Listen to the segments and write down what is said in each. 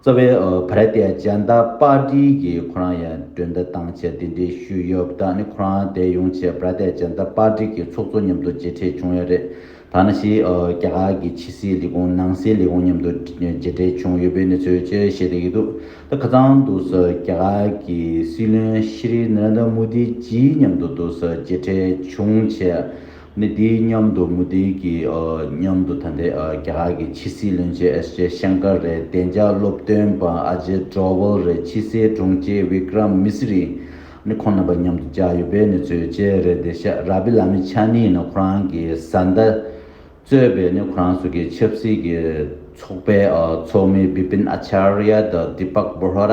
རྩ་བའི་བྷ་ར་ཏའི་ཇཱན་ཏཱ་པཱ་ཏི་གིས་ཁོ་རང་ཡང་མགྲོན་བདག་བཏང་ཆེད་འདི་འདྲའི་ཤུལ་ཡོད་བདག་ནི་ཁོ་རང་དེ་ཡོང་ཆེད་བྷ་ར་ཏའི་ཇཱན་ཏཱ་པཱ་ཏི་གི་ཚོགས་གཙོ་མཉམ་དུ་མཇལ་འཕྲད་བྱུང་ཡོད་རེད་ཐ་ན་ཕྱིའི་རྒྱ་གར་གྱི་ཕྱི་སྲིད་ལས་ཁུངས་ནང་སྲིད་ལས་ཁུངས་མཉམ་དུ་མཇལ་འཕྲད་བྱུང་ཡོད་པའི་གནས་ཚུལ་བཅས་བཤད་བསྡད་ཀྱི་འདུག་ད་ཁ་ཚང་དུ་རྒྱ་གར་གྱི་སྲིད་བློན་ཤྲི་ནར་ཨན་དྲ་མོ་དི་ཇི་མཉམ་དུ་མཇལ་འཕྲད་བྱུང་ཆེད། མི་དེའི་མཉམ་དུ་མུ་ཏིང་གི་མཉམ་དུ་ད་ལྟའི་རྒྱ་གར་གྱི་ཕྱི་སྲིད་བློན་ཆེན་ཨེས་ཇེ་ཤང་ཀར་རེད་བདེ་འཇགས་སློབ་སྟོན་པ་ཨ་ཇེ་ཀྲོ་ཝལ་རེད་ཕྱི་སའི་དྲུང་ཆེ་བྷི་ཀྲམ་མི་སི་རི་ནི་ཁོང་རྣམ་པ་མཉམ་དུ་བཅར་ཡོད་པའི་གནས་ཚུལ་བཅས་རེད་བདེ་ཤ་ར་བྷི་ལ་མི་ཆ་ནི་ནི་ཁོ་རང་གི་བཟའ་ཟླ་གཙོས་པའི་ནི་ཁོ་རང་སོ་གའི་ཆབ་སྲིད་ཀྱི་ཚོགས་པའི་ཚོགས་མི་བི་པིན་ཨ་ཆར་ཡ་དང་དི་པག་བྷོ་ར་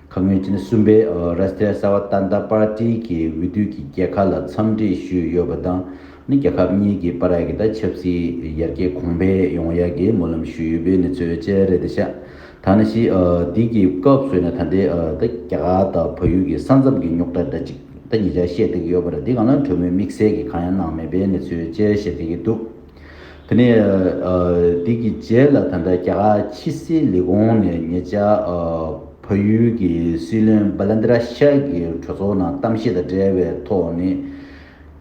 ཁ་སྔོན་ཕྱི་ཟླ་གསུམ་པའི་རཱ་སི་ཏྲ་སཱ་བྷ་ཏཱན་ཏཱ་པཱར་ཏི་གི་འོས་བསྡུ་གྱི་རྒྱལ་ཁ་ལ་འཚམས་འདྲི་ཞུས་ཡོད་པ་དང་ནི་རྒྱལ་ཁབ་གཉིས་ཀྱི་པ་ར་གི་ད་ཆབ་སྲིད་ཡར་རྒྱས་གོང་འཕེལ་ཡོང་ཡ་གི་སྨོན་ལམ་ཞུས་ཡོད་པའི་གནས་ཚོད་བཅས་རེད་དེ་ཤ་ཐ་ན་ཞི་བདེ་གི་སྐབས་སོས་ན་ད་ལྟའི་ད་རྒྱ་གར་ད་བོད་ཡུལ་གི་ས་མཚམས་གི་རྙོག་དྲ་འདྲ་གཅིག་ད་ཉིས་ཆར་བཤད་བསྡད་ཀྱི་ཡོད་པ་ར་འདི་གང་ལ་གྲོས་མོལ་དམིགས་བསལ་གི་གང་ཡང་གནང་མེད་པའི་གནས་ཚོད་བཅས་བཤད་བསྡད་ཀྱི་འདུག། དེ་ནས་དེ་གི་རྗེས་ལ་ད་ལྟ་རྒྱ་གར་ཕྱི་སྲིད་ལས་ཁུངས་ནས་ངེད་ཅག་ཕ་ཡུལ་གྱི་སྲིད་བློན Balendra Shah གྱི་གྲོས་ཚོགས་ནང་གཏམ་བཤད་དང་འབྲེལ་བའི་ཐོག་ནས་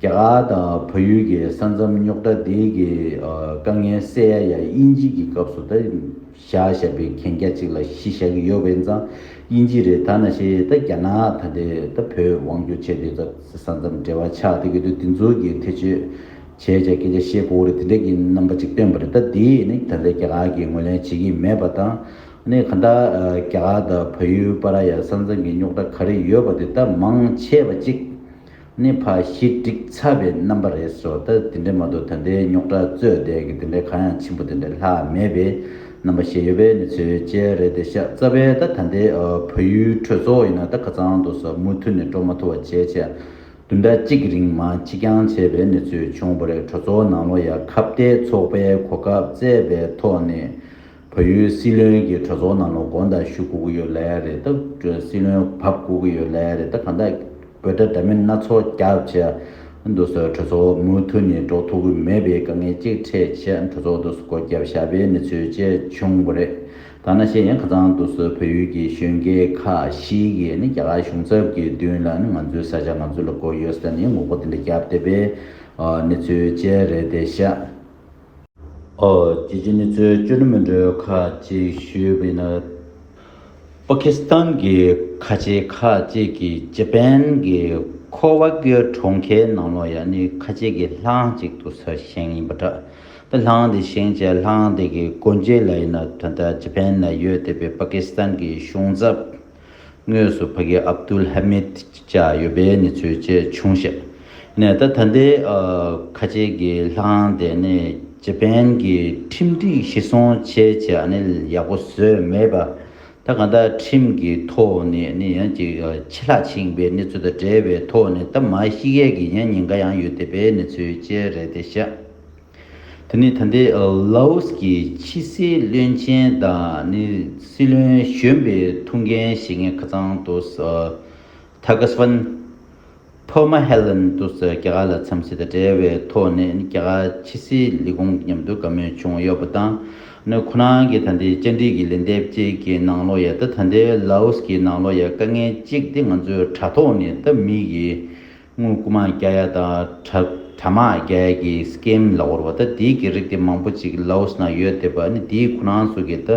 རྒྱ་གར་དང་ཕ་ཡུལ་གྱི་ས་མཚམས་རྙོག་དྲ་དེ་གི་དཀའ་ངལ་སེལ་ཡ་ཡང་དབྱིན་ཇི་གི་སྐབས་སུ་ད་བཞག་བཞག་པའི་གན་རྒྱ་ཅིག་ལ་གཞི་བཞག་གི་ཡོད་པ་ཡིན་ཙང་དབྱིན་ཇི་རེད་ད་ན་ཞེས་ད་རྒྱ་ནག་ད་དེ་ད་བོད་དབང་བསྒྱུར་བྱས་དུས་ད་ས་མཚམས་འབྲེལ་བ་ཆགས་དེ་གི་དུས་དེ་ཚོ་གི་ཐེ་ཇུས་བྱས་བྱས་སྐད་ཆ་བཤད་པོ་རེད་དེ་འདྲས་ཀྱི་རྣམ་པ་ཅིག་སྟོན་པ་རེད་ད་དེ་ནི་ད་ལྟའི་རྒྱ་གར་གྱི་ངོས་ལེན་བྱེད་ཀྱི་མེད་པ་དང་ནི་གང་ལྟར་རྒྱ་གར་དང་བལ་ཡུལ་པ་ར་ཡ་ས་མཚང་གི་རྙོག་དྲ་ག་རེ་ཡོད་པ་དེ་དག་མང་ཆེ་བ་ཅིག་ནི་ཕ་ཞི་སྒྲིག་ཚར་བའི་རྣམ་པ་རེད་སོ་ད་དེ་འདྲས་མ་གཏོགས་ད་ལྟའི་རྙོག་དྲ་རྩོད་བསྡད་ཀྱི་དེ་འདྲས་གང་ཡང་ཆེན་པོ་དེ་འདྲས་ལྷག་མེད་པའི་རྣམ་པ་ཞེ་ཡོད་པའི་གནས་ཚུལ་བཅས་རེད་དེ་ཤ་ཚ་བས་ད་ད་ལྟའི་བལ་ཡུལ་གྲོས་ཚོགས་ཡིན་ན་ད་ག་ཚང་དུ་ཟ་མུ་མཐུད་ནས་སྤྲོ་མ་ཐུ་བ་བྱས་བྱས་བདུན་ཕྲག་གཅིག་གི་རིང་མ་འཆི་རྐྱང་བྱས་པའི་གནས་ཚུལ་བྱུང་བ་རེད་གྲོས་ཚོགས་ནང་ལོ་ཡ་ཁ་བརྡའི་ཚོགས་པའི་གོ་སྐབས་བཙལ་བའི་ཐོག་ནས་བལ་ཡུལ་སྲིད་བློན་གྱིས་གྲོས་ཚོགས་ནང་ལོ་དགོན་དང་ཞུ་སྒུག་ཡོད་ལེ་རེད་ད་གྲོས་སྲིད་བློན་བབ་སྒུག་གི་ཡོད་ལེ་རེད་ད་གང་ལྟར་འབོད་སྒྲ་འདྲ་མིན་སྣ་ཚོགས་རྒྱག་བྱས་འདུག་ཟེར་གྲོས་ཚོགས་མུ་མཐུད་ནས་འགྲོ་ཐུབ་ཀྱི་མེད་པའི་དཀའ་ངལ་གཅིག་འཕྲད་ཆེད་གྲོས་ཚོགས་འདུ་སྒོ་བརྒྱབ་བཞག་པའི་གནས་ཚུལ་བཅས་བྱུང་བ་རེད། ཐ་ན་གཞན་ཡང་ཁ་ཚང་དུ་སོགས་བོད་ཡུལ་གྱི་གཞོན་སྐྱེས་ཁག་ཞིག་གིས་ནི་རྒྱ་གར་གཞུང་ཚབ་ཀྱི་མདུན་ལ་ནི་ང་ཚོའི་ས་ཆ་ང་ཚོ་ལ་གོ་ཡོད་ཟེར་ནས་ངོ་རྒོལ་དེ་འདྲ་བརྒྱབ་བསྡད་པའི་གནས་ཚུལ་བཅས་རེད་དེ་ཤག་རྒྱལ་སྤྱིའི་གནས་ཚུལ་བཅོས་སྒྲིག་མི་འདྲ་བ་ཁག་ཅིག་ཞུས་པ་ཡིན་ན། པ་ཁི་སི་ཐན་གྱི་ཁ་ཆེ་ཁག་ཅིག་གིས་ཅེ་པན་གྱི་ཁོ་བྷ་གྷི་ར་གྲོང་ཁྱེར་ནང་ལོགས་ཡ་ནི་ཁ་ཆེ་གི་ལྷ་ཁང་ཅིག་ཏུ་ས་ཞིང་ཡིན་པ་འདྲ། པའི་ལྷང་འདི་ཞིང་ཆེ་ལྷང་འདི་གི་སྒོ་འབྱེད་ལ་ཡིན་ན་དོན་དག་ཇེ་ཕན་ན་ཡོད་དེ་པའི་པ་ཀི་སི་ཐན་གྱི་གཞུང་ཚབ་ངོས་སུ་ཕ་གི་ཨབ་དུལ་ཧ་མིད་བཅས་ཡོད་པའི་གནས་ཚུལ་བཅས་བྱུང་བཤད་ནས་ད་ད་ལྟའི་ཁ་ཆེ་གི་ལྷང་འདི་ནི་ཇེ་ཕན་གྱི་ཁྲིམས་སྒྲིག་གཞིར་བཟུང་བྱས་ཆེ་ཨ་ནི་ཡག་པོ་བཟོས་མེད་པ། ད་གང་ལྟར་ཁྲིམས་ཀྱི་ཐོག་ནས་ནི་ཡང་གཅིག་ཆད་ལྷག་ཕྱིན་པའི་གནས་ཚུལ་དང་འབྲེལ་བའི་ཐོག་ནས་ད་མ་ཤི་ཡས་ཀྱི་ཡང་ཉེན་ཁ་ཡང་ཡོད་དེ་པའི་གནས་ཚུལ་བཅས་རེད་དེ་ཤ་དེ་ནི་ད་ལྟའི Laos ཀྱི་ཕྱི་སྲིད་བློན་ཆེན་དང་ནི་སྲིད་བློན་གཞོན་པའི་ཐུགས་འགན་བཞེས་མཁན་ཁ་ཚང་དུ Thagasvon ཐོག་མ་ཧེ་ལན་ཏུ་སི་རྒྱ་གར་ལ་འཚམས་གཟིགས་དང་འབྲེལ་བའི་ཐོག་ནས་རྒྱ་གར་ཕྱི་སྲིད་ལས་ཁུངས་ཀྱི་མཉམ་དུ་བཀའ་མོལ་བྱུང་ཡོད་པ་དང། ནི་ཁོ་རང་གིས་ད་ལྟའི་བཅར་འདྲི་གི་ལན་འདེབས་བཅས་ཀྱི་ནང་ལོ་ཡ་དང་ད་ལྟའི་ལཱ་ཨོ་སི་ཀྱི་ནང་ལོ་ཡ་དཀའ་ངལ་གཅིག་དེ་ང་ཚོས་དྲ་ཐོག་ནས་ད་མི་གི་དངུལ་རྐུ་མ་རྒྱག་ཡ་དང་དྲ་དྲ་དམག་རྒྱག་ཡ་གི Scam ལ་བོར་བ་ད་དེའི་གི་རིགས་དེ་མང་པོ་གཅིག་ལཱ་ཨོ་སི་ནང་ཡོད་དེ་བ་ནི་དེའི་ཁོ་རང་ཚོ་གི་ད་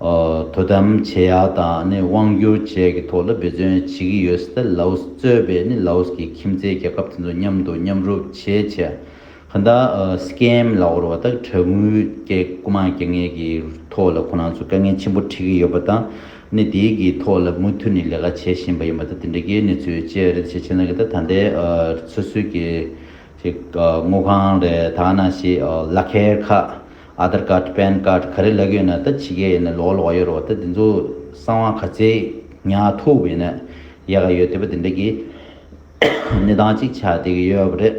དོ་དམ་བྱེད་ཡག་དང་ནི་དབང་བསྒྱུར་བཅས་ཀྱི་ཐོག་ལ་འབད་བརྩོན་བྱེད་ཀྱི་ཡོད་སྲིད་ལ་ལའོ་སི་གཙོས་པའི་ནི་ལའོ་སི་གི་ཁྱིམ་མཚེས་རྒྱལ་ཁབ་དེ་ཚོ་མཉམ་དུ་མཉམ་རུབ་བྱེད་ཆེད་གང་དག་སི་ཀེམ་ལ་འོར་བ་དག་དྲ་ངུའི་སྐད་སྐུ་མང་སྐྱེ་ངེས་ཀྱི་ཐོག་ལ་ཁོ་རང་ཚོས་དཀའ་ངལ་ཆེན་པོ་འཕྲད་ཀྱི་ཡོད་པ་དང་ནི་དེའི་གི་ཐོག་ལ་མུ་མཐུད་ནི་ལས་ཀ་བྱེད་བཞིན་པ་ཡིན་པ་དང་དེ་འདྲ་གི་ནི་ཚུལ་བཅས་རེད་ཞེས་བྱས་ན་གི་ད་ད་ལྟའི་ཚོད་སུས་ཀྱི་དངུལ་ཁང་རེད་དག་ན་ཞེས་བླ་ཁལ་ཁ Aadhar Card Pan Card ག་རེ་ལག་ཡོད་ན་ད་ཕྱི་ག་ཡིན་ན་ལོག་ལོག་ཡོད་རོགས་ད་དེ་ཚོ་གསང་བ་ག་ཚད་ཉག་ཐུག་བས་ན་ཡག་ག་ཡོད་དེ་བ་དེ་འདྲ་གི་གནས་སྟངས་གཅིག་ཆགས་བསྡད་གི་ཡོད་བ་རེད།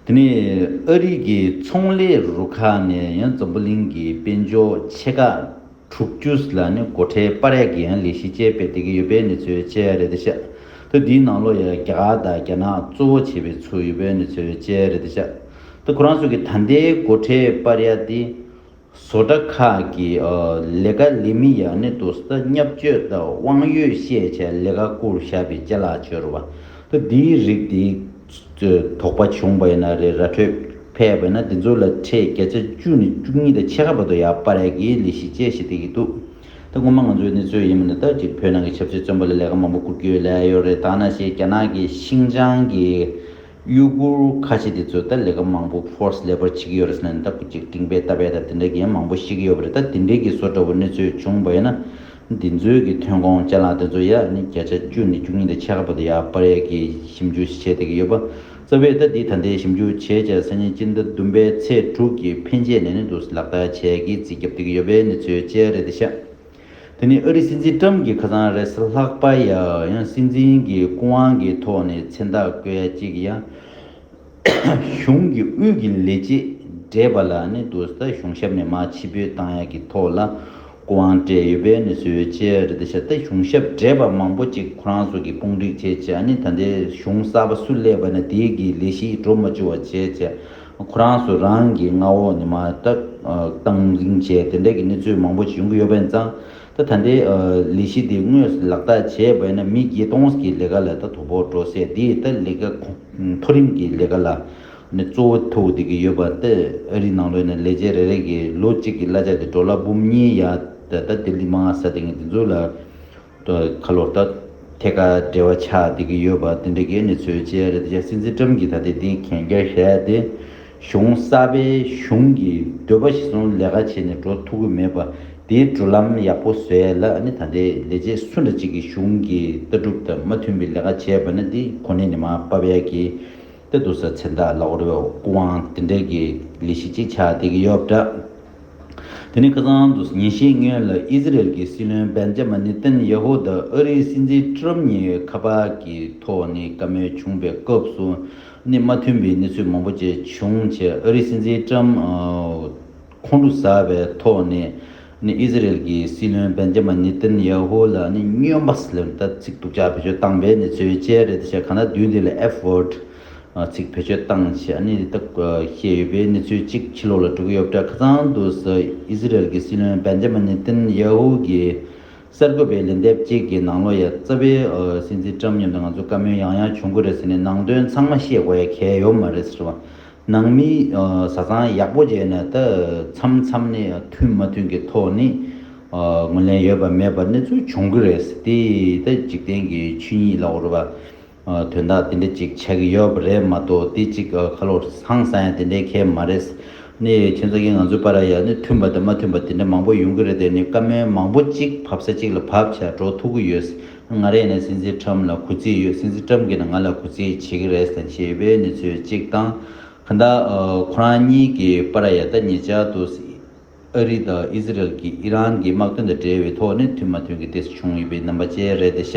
དེ་ནས་ཨ་རིག་གི་ཚོང་ལས་རུ་ཁག་ནས་ཡང་འཛམ་བུ་གླིང་གི་དཔལ་འབྱོར་ཕྱེད་ཀ། དྲུག་ཅུ་ལ་ནི་སྒོ་ཁྲལ་པར་ཡག་གི་ཡང་ལས་གཞི་བཅས་སྤེལ་བསྡད་ཀྱི་ཡོད་པའི་གནས་ཚུལ་བཅས་རེད་དེ་ཤ་ཏུ་དེའི་ནང་ལོ་ཡ་རྒྱ་གར་དང་རྒྱ་ནག་གཙོ་བོ་བྱས་པའི་ཚུལ་ཡོད་པའི་གནས་ཚུལ་བཅས་རེད་དེ་ཤ་ཏུ་ཁོ་རང་ཚོ་གི་ད་ལྟའི་སྒོ་ཁྲལ་པར་ཡག་དེ་བཟོ་གྲྭ་ཁག་གི་ལས་ཀ་ལས་མི་ཡག་ནི་དུ་ས་མཉམ་སྤྱོད་དང་དབང་ཡོད་ཤེས་བྱའི་ལས་ཀ་བསྐུར་བཞག་པའི་ལྕེ་ལག་འཆོལ་བ་ཏུ་དེའི་རིགས་དེ། དོགས་པ་བྱུང་བ་ཡིན་ན་རེད་ར་འཕྲོད་ཕེབས་བས་ན་འདི་ཚོ་ལ་ཁྲེས་བརྒྱ་ཆ་བཅུ་ནས་བཅུ་གཉིས་དང་ཕྱེད་ཀ་བར་དུ་ཡག་པ་རེད་གི་ལི་ཤི་ཅེས་ཞེ་ཏི་གིས་འདུག་ད་ངོ་མ་ང་ཚོའི་ནི་ཚོད་ཡིན་མོ་ནི་ད་ཅིག་བོད་ནང་གི་ཆབ་སྲིད་བཙོན་པ་ལ་ལས་ཀ་མང་པོ་བསྐུར་རྒྱུའི་ལས་ཡོད་རེད་ད་ན་ཞེས་རྒྱ་ནག་གི་ཤིང་ཅང་གི་གཡུ་གུར་ཁ་ཆེ་དེ་ཚོས་ད་ལས་ཀ་མང་པོ་ཕོརས་ལེ་པར་བྱེད་ཀྱི་ཡོད་རེད་ཟེར་ནས་ད་ཁུ་ཅིག་སྤྲིང་པའི་རྟ་བལ་དང་དེ་འདྲ་གི་ཡང་མང་པོ་བཤད་ཀྱི་ཡོད་པ་རེད་ད་དེ་འདྲའི་གི་བཟོ་འདྲ་བོ་ནི་ཚོད་བྱུང་བ་ཡིན་ན། འདི་ཚོའི་གི་ཐོན་ཁོངས་ལྕེ་ལག་དེ་ཚོ་ཡག་ནི་བརྒྱ་ཆ་བཅུ་ནས་བཅུ་གཉིས་དེ་ཆེ་ཁ་པོ་དེ་ཡག་པ་རེད་གི་ཞིབ་འཇུག་བྱེད་བསྡད་གི་ཡོད་པ་རྩ་བའི་ཟླ་འདིའི་ད་ལྟའི་ཞིབ་འཇུག་བྱས་བྱས་སང་ཉིན་སྤྱི་ཟླ་བདུན་པའི་ཚེས་དྲུག་གི་ཕན་ཆད་ནས་ནི་འདུག་ལག་བསྟར་བྱས་གི་རྩིས་རྒྱབ་བསྡད་གི་ཡོད་པའི་གནས་ཚུལ་བཅས་རེད་དེ་ཤ་དེ་ནི་ཨ་རི་སྲིད་འཛིན་ཀྲམ་གི་ཁ་ཚང་རེད་ས་ལྷག་པ་ཡ་ཡང་སྲིད་འཛིན་གི་སྐུ་དབང་གི་ཐོག་ནས་མཚན་རྟགས་བཀོད་ཡ་གཅིག་ཡ། གཞུང་གི་དབུས་ཀྱི་ལས་བྱེད་བགྲེས་པ་ལ་ནི་རྡོ་ཟ་གཞུང་ཞབས་ནས་མ་ཕྱི་པོའི་བཏང་ཡག་གི་ཐོག་ལ་སྐུ་དབང་སྤྲད་ཡོད་པས་ནི་བཟོས་བྱས་རེད་ད་ཤ་སྟག་གཞུང་ཞབས་བགྲེས་པ་མང་པོ་ཅིག་ཁོ་རང་ཚོ་གི་དཔུང་སྒྲིག་བྱས་བྱས་ནི་ད་ལྟའི་གཞུང་གསར་པ་སུ་སླེབས་པ་ནི་དེ་གི་ལས་གཞི་འགྲོ་མ་འཇུག་བ་བྱས་བྱས་ཁོ་རང་ཚོ་རང་གི་མངའ་འོག་ནས་མ་བཏང་རིང་བྱས་དེ་འད་གི་གནས་ཚུལ་མང་པོ་ཅིག་ཡོང་གི་ཡོད་པས་ཙང། ད་ད་ལྟའི་ལས་གཞི་འདི་དངོས་སུ་ལག་བསྟར་བྱས་བས་ན་མི་བརྒྱད་སྟོང་གི་ལས་ཀ་ལ་ད་དོ་ཕོག་འགྲོ་སྲིད་དེ་ད་ལས་ཀ་མཐོ་རིམ་གྱི་ལས་ཀ་ལ་ནི་གཙོ་བོ་ཐུག་བསྡད་ཀྱི་ཡོད་པ་ད་ཨ་རིའི་ནང་ལོས་ནས་ལས་བྱེད་རེ་རེ་གི་ལོ་གཅིག་གི་གླ་ཆ་དེ་འགྲོ་ལ་འབུམ་གཉིས་ཡ་ད་ད་ལྟའི་ལི་མ་ང་ས་དེ་ངས་དེ་ཚོ་ལ་ད་ཁ་ལོར་ད་ཐད་ཀར་འབྲེལ་བ་ཆགས་བསྡད་ཀྱི་ཡོད་པ་དེ་འདྲ་གི་ནི་ཚོའི་བྱས་རེད་ད་ཆ་སྲིད་འཛིན་ཀྲམ་གྱིས་ད་ལྟའི་དེ་གན་རྒྱ་བཞག་སྟེ་གཞུང་གསར་པའི་གཞུང་གི་འདོད་པ་བཞི་ཟུང་ལས་ཀ་བྱས་ནས་འགྲོ་ཐུབ་ཀྱི་མེད་པ་དེའི་བགྲོད་ལམ་ཡག་པོ་བཟོས་ལ་ནི་ད་ལྟའི་ལས་བྱེད་སུ་འདྲ་ཅིག་གིས་གཞུང་གི་ལྟ་གྲུབ་དང་མ་མཐུན་པའི་ལས་ཀ་བྱས་པ་ན་དེ་ཁོ་ནའི་ནི་མ་དཔའ་བ་ཡག་གི་ཏེ་འདུག་ས་ཚེ་བདག་ལ་འོ་རེའོ་སྐུ་དབང་དེ་འདྲ་གི་ལས་གཞི་ཅིག་ཆགས་བསྡད་ཀྱི་ཡོད་འདྲ། དེ་ནི་ཁ་སང་དུ་ཉིན་ཤས་སྔོན་ལ་ཨི་ཟི་རལ་གྱི་སྲིད་བློན་བན་ཇ་མ་ནི་ཏན་ཡེ་ཧོ་དང་ཨ་རིའི་སྲིད་འཛིན་ཀྲི་རམ་གཉིས་ཁ་པར་གྱི་ཐོག་ནས་བཀའ་མོལ་བྱུང་པའི་སྐབས་སུ་གནས་མ་མཐུན་པའི་གནས་ཚུལ་མང་པོ་བཅས་བྱུང་རྗེས་ཨ་རིའི་སྲིད་འཛིན་ཀྲམ་ཁོང་ཁྲོ་ཟ་བའི་ཐོག་ནས་ཨི་ཟི་རེལ་གྱི་སྲིད་བློན་བན་རྗེ་མ་ནེ་ཏན་ཡ་ཧུ་ལ་སྨྱོན་པ་ལས་ལྟ་ཚིག་སྡུག་ཅག་བེད་སྤྱོད་བཏང་པའི་གནས་ཚུལ་བཅས་རེད་ཅེས་ག་ན་བདུན་དེ་ལ F word ཚིག་བེད་སྤྱོད་བཏང་ཞེས་ཨ་ནེ་ཏ་བཤད་ཡོད་པའི་གནས་ཚུལ་གཅིག་ཕྱི་ལོགས་ལ་གྲུ་གུ་གཡོབ་གྲྭ་ཁ་ཚང་དུ་ཨི་ཟི་རེལ་གྱི་སྲིད་བློན་བན་རྗེ་མ་ནེ་ཏན་ཡ་ཧུ་གྱིས་གསར་འགོད་པས་ལན་འདེབས་གཅིག་གི་ནང་ལོ་ཡ་རྩ་བའི་སྲིད་འཛིན་ཀྲམ་མཉམ་དུ་ང་ཚོ་བཀའ་མོལ་ཡང་ཡང་བྱུང་གི་རེད་ཟེར་ནས་ནང་དོན་ཚང་མ་ཤེས་དགོས་ཡ་གལ་ཡོད་མ་རེད་ཟེར་བ། ནང་མི་བཟའ་ཚང་ཡག་པོ་བྱས་ནས་ད་མཚམས་མཚམས་ནས་མཐུན་མ་མཐུན་གྱི་ཐོག་ནས་ངོས་ལེན་ཡོད་པ་མེད་པ་གནས་ཚུལ་བྱུང་གི་རེད་དེ་ད་འཇིག་རྟེན་གྱི་ཆོས་ཉིད་ལ་འོར་བ། དོན་དག་དེ་འདྲ་གཅིག་ཆགས་ཀྱི་ཡོད་པ་རེད་མ་གཏོགས་དེ་གཅིག་ཁ་ལོ་བཟང་ས་ཡང་དེ་འདྲའི་ཁེ་མ་རེད། ནི་ཁྱོད་ཚོ་གིས་ང་ཚོའི་པ་ར་ཡ་ནི་མཐུན་པ་དང་མ་མཐུན་པ་དེ་འདྲ་མང་པོ་ཡོང་གི་རེད་དེ་ནི་བཀའ་མོལ་མང་པོ་གཅིག་བབ་ས་གཅིག་ལ་བབ་བྱས་འགྲོ་ཐུབ་ཀྱི་ཡོད། ང་རེད་ནི་སྲིད་འཛིན་ཁྲམ་ལ་གུས་བརྩི་ཡོད་སྲིད་འཛིན་ཁྲམ་གྱིས་ནི་ང་ལ་གུས་བརྩི་བྱེད་ཀྱི་རེད་ཟེར་ཞེས་པའི་ནི་ཚོད་གཅིག་དང། གང་ལྟར་ཁོ་རང་གཉིས་ཀྱི་པ་ར་ཡ་ད་ངེད་ཅག་ཏུ། ཨ་རི་དང་ཨི་ཟི་རལ་གྱིས་ཨི་རན་གྱི་དམག་དོན་དང་འབྲེལ་བའི་ཐོག་ནས་མཐུན་མ་མཐུན་གྱི་གཏད་སོ་བྱུང་ཡོད་པའི་རྣམ་པ་བཅས་རེད་དེ་ཤ་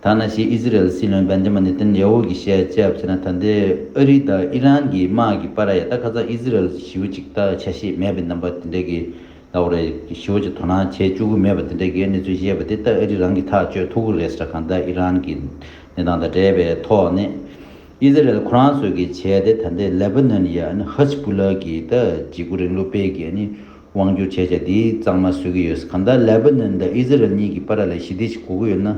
ཐ་ན་ཕྱིའི་ཨི་ཟི་རལ་སྲིད་བློན་བན་ཇེ་མ་ནེ་ཐན་ཡ་ཧོ་གྱིས་བཤད་དཔྱད་བྱས་ན་ད་ལྟའི་ཨ་རི་དང་ཨི་རན་གྱི་དམག་གི་པར་ཡ་ད་ཁ་ཚ་ཨི་ཟི་རལ་གྱི་ཞི་བ་ཅིག་ད་ཆ་ཤེས་མེད་པའི་རྣམ་པ་དེ་འདྲའི་གི་ལ་ཧོ་རེ་གི་ཞི་བ་ཅིག་དོ་སྣང་བྱེད་བཅུག་གི་མེད་པ་དེ་འདྲའི་གི་གནས་ཚུལ་བཤད་པ་དེ་ད་ཨ་རི་རང་གིས་ཐག་གཅོད་ཐུབ་གི་རེད་ས་གང་ད་ཨི་རན་གྱི་གནས་སྟངས་དང་འབྲེལ་བའི་ཐོག་ནས། ཨི་ཟི་རལ་ཁོ་རང་ཚོས་ཀྱི་བྱས་ཏེ་ད་ལྟའི་ལེ་བྷ་ནོན་ཡ་ཨན་ཧི་ཟི་བུ་ལ་གི་ད་འཇིགས་སྐུ་རིང་ལུགས་སྤེལ་གྱི་ཨ་ནི་དབང་བསྒྱུར་བྱས་བྱས་དེའི་གཙང་མ་བཟོས་ཀྱི་ཡོད་ས་གང་ལྟར་ལེ་བྷ་ནོན་ད་ཨི་ཟི་རལ་གཉིས་ཀྱི་པ་ར་ལ་ཞི་བདེ་ཞིག་གོ་གི་ཡོད་ན་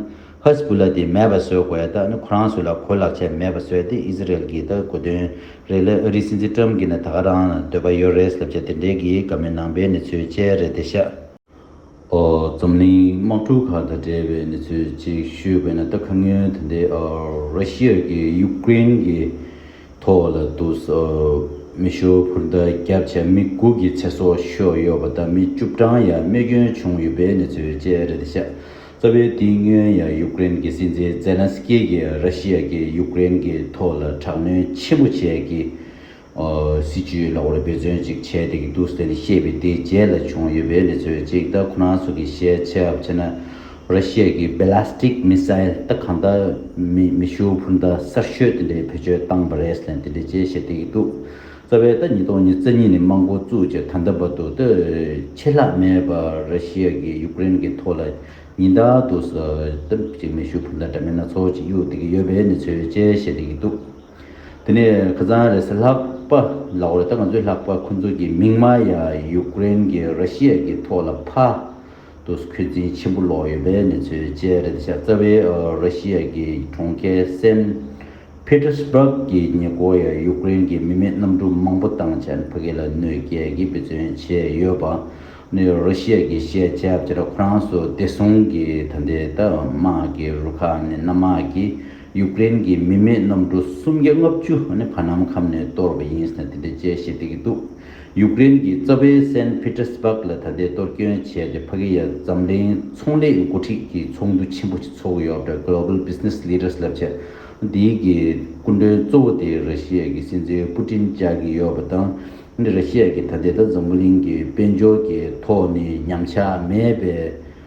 ཧི་ཟི་བུ་ལ་དེ་མེད་པ་བཟོས་དགོས་ཡ་ད་ཨ་ནི་ཁོ་རང་ཚོས་ལ་གོ་ལག་ཆད་མེད་པ་བཟོས་ཏེ་ཨི་ཟི་རལ་གྱི་ད་གོ་དོན་རེད་ལེ་ཨ་རི་སྲིད་འཛིན་ཏྲམ་གྱི་ན་ད་ག་རང་ལ་འདོད་པ་ཡོད་རེད་ཟེར་བྱས་དེ་འདྲའི་གི་ག་མི་ནང་པའི་ནི་ཚོའི་དཔྱད་རེད་དེ་ཤ། འཛམ་གླིང་དམག་གྲུ་ཁག་དང་འབྲེལ་བའི་གནས་ཚུལ་གཅིག་ཞུས་དགོས་ན་ད་ཁ་ངོས་དེ་འདི་ར་ཤི་ཡར་གྱི་ཡུ་ཀེ་རེན་གྱི་ཐོག་ལ་འདུག་མི་ཤོ་བུར་འདར་རྒྱབ་བྱས་མི་དགུ་གི་ཚེ་སྲོག་ཤོར་ཡོད་པ་དང་མི་བཅུ་བགྲང་ཡར་རྨས་སྐྱོན་བྱུང་ཡོད་པའི་གནས་ཚུལ་བཅས་རེད་དེ་ཤ་ཚ་བའི་དེ་སྔོན་ཡང་ཡུ་ཀེ་རེན་གྱི་སྲིད་འཛིན་ཛེ་ལན་སི་ཀེ་ཡིས་ར་ཤི་ཡར་གྱི་ཡུ་ཀེ་རེན་གྱི་ཐོག་ལ་དྲག་གནོན་ཆེན་པོ་བྱས་ཀྱི་སྲིད་ཇུས་ལ་འོས་འཕེན་བརྩོན་ཅིག་བྱས་ཏེ་གི་འདུག་ཟེར་ནས་བཤད་པའི་དེའི་རྗེས་ལ་བྱུང་ཡོད་པའི་གནས་ཚུལ་གཅིག་ད་ཁོ་རང་ཚོ་གི་ཤེས་ཚད་བྱས་ན་ར་ཤི་ཡ་གི Ballistic Missile ད་གང་ད་མེ་ཤུགས་འཕུར་མདའ་གསར་ཤོས་དེ་འདྲའི་བེད་སྤྱོད་བཏང་བ་རེད་ཟེར་ནས་དེ་འདྲའི་རྗེས་བཤད་དེ་གི་འདུག་རྩ་བའི་ད་ཉིས་སྟོང་ཉིས་རྩ་གཉིས་ནས་དམག་མགོ་བཙུགས་རྗེས་ད་ལྟ་བར་དུ་ད་ཆད་ལྷག་མེད་པ་ར་ཤི་ཡ་གི་ཡུག་རེན་གི་ཐོག་ལ་ཉིན་ལྟར་དུ་ད་ཅིག་མེ་ཤུགས་འཕུར་མདའ་འདྲ་མིན་སྣ་ཚོགས་ཅིག་གཡུག་དེ་གི་ཡོད་པའི་གནས་ཚུལ་བཅས་བཤད་དེ་གི་འདུག། དེ་ནས་ཁི་ཙང་རེས་ལྷག་པ་ལ་འོད་ད་ང་ཚོའི་ལྷག་པ་ཁོ་ཚོ་གི་མིང་མ་ཡ་ཡུག་རེན་གི་ར་ཤི་ཡ་གི་ཐོག་ལ་ཕ་ཏོ་སི་ཁོད་འཛིན་ཆེན་པོ་ལོག་ཡོད་པའི་གནས་ཚུལ་བཅས་རེད་ད་ཤ་རྩ་བའི་ར་ཤི་ཡ་གི་གྲོང་ཁྱེར་སེན་ཕི་ཏི་སི་པཱག་གི་ཉེ་འཁོར་ཡ་ཡུག་རེན་གི་མི་མེད་གནམ་གྲུ་མང་པོ་དང་ཆན་ཕ་ཁི་ལ་གནོད་སྐྱལ་གི་འབད་བརྩོན་བྱས་ཡོད་པ་ནི་ར་ཤི་ཡ་གི་ཤེས་བྱ་བཅས་ར་ཁོ་རང་སོ་བདེ་སྲུང་གི་ད་ལྟའི་ད་དམག་གི་རུ་ཁག་ནི་གནམ་དམག་གི་ཡུག་ཀེ་རེན་གྱི་མི་མེད་གནམ་གྲུ་སུམ་བརྒྱ་ལྔ་བཅུ་ནི་བར་ནམ་ཁམས་ནས་གཏོར་བ་ཡིན་ཟེར་ནས་དེ་འདྲའི་དཔྱད་གཞི་སྤེལ་གྱི་འདུག་ཡུག་ཀེ་རེན་གྱི་རྩ་བའི་སན་ཕི་ཏེར་སི་པག་ལ་ད་ལྟའི་གཏོར་སྐྱོན་བྱས་རྗེས་བྷ་གེ་ཡ་འཛམ་གླིང་ཚོང་ལས་འགོ་ཁྲིད་ཀྱི་ཚོགས་འདུ་ཆེན་པོ་ཞིག་ཚོགས་ཡོད་པ་རེད Global Business Leaders ལབ་བྱ་དེའི་གི་སྐུ་མགྲོན་གཙོ་བོ་དེ་ར་ཤི་ཡ་གྱི་སྲིད་འཛིན་པུ་ཏིན་བཅའ་གི་ཡོད་པ་དང་ར་ཤི་ཡ་གྱི་ད་ལྟའི་ད་འཛམ་གླིང་གི་དཔལ་འབྱོར་གྱི་ཐོག་ནས་ཉམས་ཆག་མེད་པའི་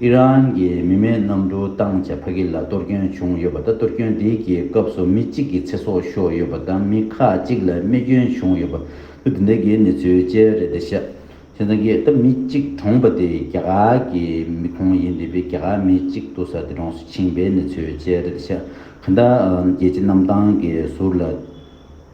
ཨི་རན་གྱི་མི་མེད་གནམ་གྲུ་བཏང་རྗེས་ཕ་གི་ལ་གཏོར་སྐྱོན་བྱུང་ཡོད་པ་དང་གཏོར་སྐྱོན་དེ་གི་སྐབས་སུ་མི་གཅིག་གི་ཚེ་སྲོག་ཤོར་ཡོད་པ་དང་མི་ཁག་གཅིག་ལ་རྨས་སྐྱོན་བྱུང་ཡོད་པ་ལོ་འདི་འདྲ་གི་གནས་ཚུལ་བཅས་རེད་དེ་ཤ་ཆེན་ཚང་གིས་ད་མི་གཅིག་གྲོངས་པ་དེ་རྒྱ་གར་གྱི་མི་ཁོང་ཡིན་དེ་བས་རྒྱ་གར་མི་གཅིག་ཏུ་ས་དེ་གྲོངས་སུ་ཕྱིན་པའི་གནས་ཚུལ་བཅས་རེད་དེ་ཤ་ག་འདྲ་རྒྱལ་སྤྱི་གནམ་ཐང་གི་ཟུར་ལ་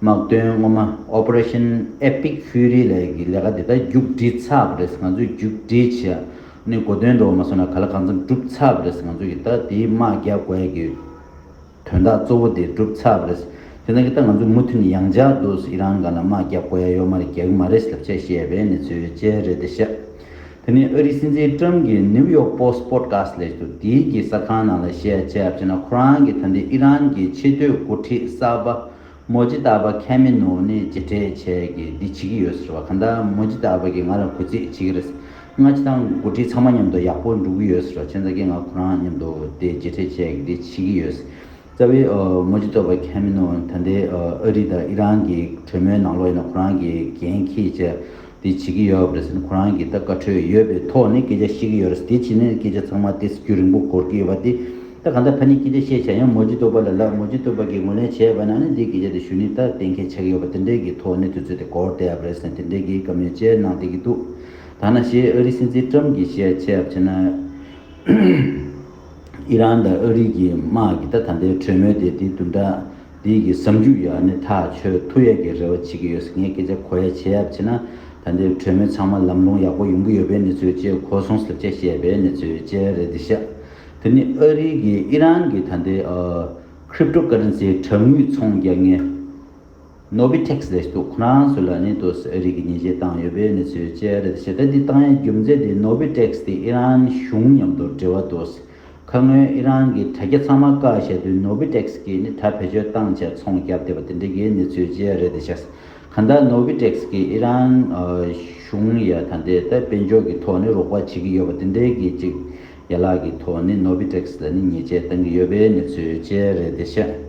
དམག་དོན་སྔོན་མ Operation Epic Fury ལས་ཀྱི་ལས་ཀ་དེ་དག་རྒྱུགས་སྒྲིལ་ཚགས་རེས་ང་ཚོས་རྒྱུགས་སྒྲིལ་བྱས་ནས་གོ་དོན་འགྲོ་བ་མ་སོང་ན་ག་ལ་གང་འཚམ་སྒྲུབ་ཚགས་རེས་ང་ཚོ་ཡི་ད་དེའི་དམག་རྒྱག་དགོས་ཀྱི་དོན་དག་གཙོ་བོ་དེ་སྒྲུབ་ཚགས་རེས་དེ་དག་གི་ད་ང་ཚོ་མུ་མཐུན་ཡང་འཇགས་འདུག་ཨི་རང་ག་ན་དམག་རྒྱག་དགོས་ཡ་ཡོད་མ་རེད་རྒྱག་གི་མ་རེད་ཟེར་བྱས་བཤད་པའི་གནས་ཚུལ་བཅས་རེད་དེ་བཤད་དེ་ནི་ཨ་རིའི་སྲིད་འཛིན Trump གྱིས New York Post Podcast ལས་ཚོ་དེའི་གི་གསར་ཁང་ནང་ལ་བཤད་བྱས་བྱས་ན་ཁོ་རང་གི་ད་འདི་ཨི་རང་གི་ཆེས་མཐོའི་འགོ་ཁྲིད་གསར་པ། མོ་ཇི་ལྟ་བ་ཁས་མི་ནུ་ནི་ཇི་སྤྲད་བྱས་གི་འདི་བྱེད་ཀྱི་ཡོད་ཟེར་བ་ག་འདྲ་མོ་ཇི་ལྟ་བ་གི་ང་ལ་གུས་རྩིས་བྱེད་ཀྱི་རེད་ཟེར་སྔ་ཕྱི་དང་དགུ་ཁྲི་ཚང་མ་མཉམ་དུ་ཡག་པོ་འགྲུག་གི་ཡོད་ཟེར་བ་ཁྱོད་ཚ་གི་ང་ཁོ་རང་མཉམ་དུ་དེ་ཇི་སྤྲད་བྱས་གི་འདི་བྱེད་ཀྱི་ཡོད་ཟེར་རྩ་བའི་མོ་ཇི་ལྟོ་བ་ཁས་མི་ནུ་ད་ལྟའི་ཨ་རི་དང་ཨི་རན་གི་གྲོས་མོལ་ནང་ལོག་ཡིན་ན་ཁོ་རང་གི་འགན་ཁྱེད་ཅག་དེ་བྱེད་ཀྱི་ཡོད་རེད་ཟེར་ཁོ་རང་གིས་ད་བཀའ་ཁྲོལ་ཡོད་པའི་ཐོག་ནས་སྐད་ཆ་བཤད་ཀྱི་ཡོད་རེད་དེ་བྱས་ན་སྐད་ཆ་ཚང་མ་སྟེ་སྲིད་ཇུས་རིང་པོ་གོར་གྱི་ཡོད་པ་དེ་ད་གང་ལྟར་ཕ་ནི་སྐད་ཆ་བཤད་བྱ་ཡང་མོ་རྗེ་སྟོད་པ་ལ་ལབ་མོ་རྗེ་སྟོད་པ་གིས་ངོས་ལེན་བྱས་པ་ན་ནི་འདིའི་སྐད་ཆ་དེ་ཞུ་ནི་ད་གཏན་འཁེལ་ཆགས་ཀྱི་ཡོད་པ་དེ་འདྲའི་གི་ཐོག་ནས་དུས་ཚོད་དེ་གོར་བསྡད་ཡབ་རེད་ཟེར་དེ་འདྲའི་གི་བཀའ་མོལ་བཅས་གནང་བསྡད་ཀྱི་འདུག་ད་ན་ཞེས་ཨ་རིའི་སྲིད་འཛིན་ཀྲམ་གྱིས་བཤད་ཆེ་ཡབ་བྱས་ན་ཨི་རན་དང་ཨ་རིའི་གི་དམག་གི་ད་ད་ལྟའི་གྲོས་མོལ་དེ་དེ་དུ་འདྲ། འདི་གི་བསམ་རྒྱུ་ཡག་ནི་ཐག་ཆོད་ཐུག་ཡག་གི་རེ་བ་བྱེད་ཀྱི་ཡོད་ཟེར་ངས་སྐད་ཆ་གོ་ཡག་བྱེད་ཡག་བྱས་ན་ད་ལྟའི་གྲོས་མོལ་ཚང་མ་ལམ་ལྷོང་ཡག་པོ་ཡོང་གི་ཡོད་པའི་གནས་ཚུལ་བཅས་གོ་སོང་ཟེར་བཅད་བཤད་པའི་གནས་ཚུལ་བཅས་རེད་འདི་ཤ་དེ་ནི་ཨ་རི་གི་ཨི་རན་གི་ད་ལྟའི Crypto Currency དྲ་ངུས་ཚོང་རྒྱག་ངེས Nobitex ལས་འདུག་ཁོ་རང་ཚོས་ལ་ནི་དོ་སི་ཨ་རི་གི་ཉེས་ཆད་བཏང་ཡོད་པའི་གནས་ཚུལ་བཅས་རེད་འདི་ཤ་ད་འདི་བཏང་ཡའི་རྒྱུ་མཚན་དེ Nobitex དེ་ཨི་རན་གཞུང་མཉམ་དུ་འབྲེལ་བ་དོ་སི་ཁ་སྔོན་ཨི་རན་གྱི་དྲ་རྒྱ་ཚང་མ་བཀག་བྱས་དུས་ནོ་བི་ཏེག་སི་གིས་ནི་ད་བེད་སྤྱོད་བཏང་བྱས་ཚོང་བརྒྱབ་བསྡད་པ་དེ་འདྲ་གི་གནས་ཚུལ་བརྗེ་རེད་དེ་བྱས། གང་ལྟར་ནོ་བི་ཏེག་སི་གིས་ཨི་རན་གཞུང་ཡ་ད་འདི་ལྟར་དཔལ་འབྱོར་གྱི་ཐོག་ནི་རོགས་པ་བྱེད་ཀྱི་ཡོད་པ་དེ་འདྲའི་གི་ཅིག་ཡ་ལག་གི་ཐོག་ནི་ནོ་བི་ཏེག་སི་ལ་ནི་ཉེས་ཆད་བཏང་གི་ཡོད་པའི་གནས་ཚུལ་བརྗེ་རེད་དེ་བྱས།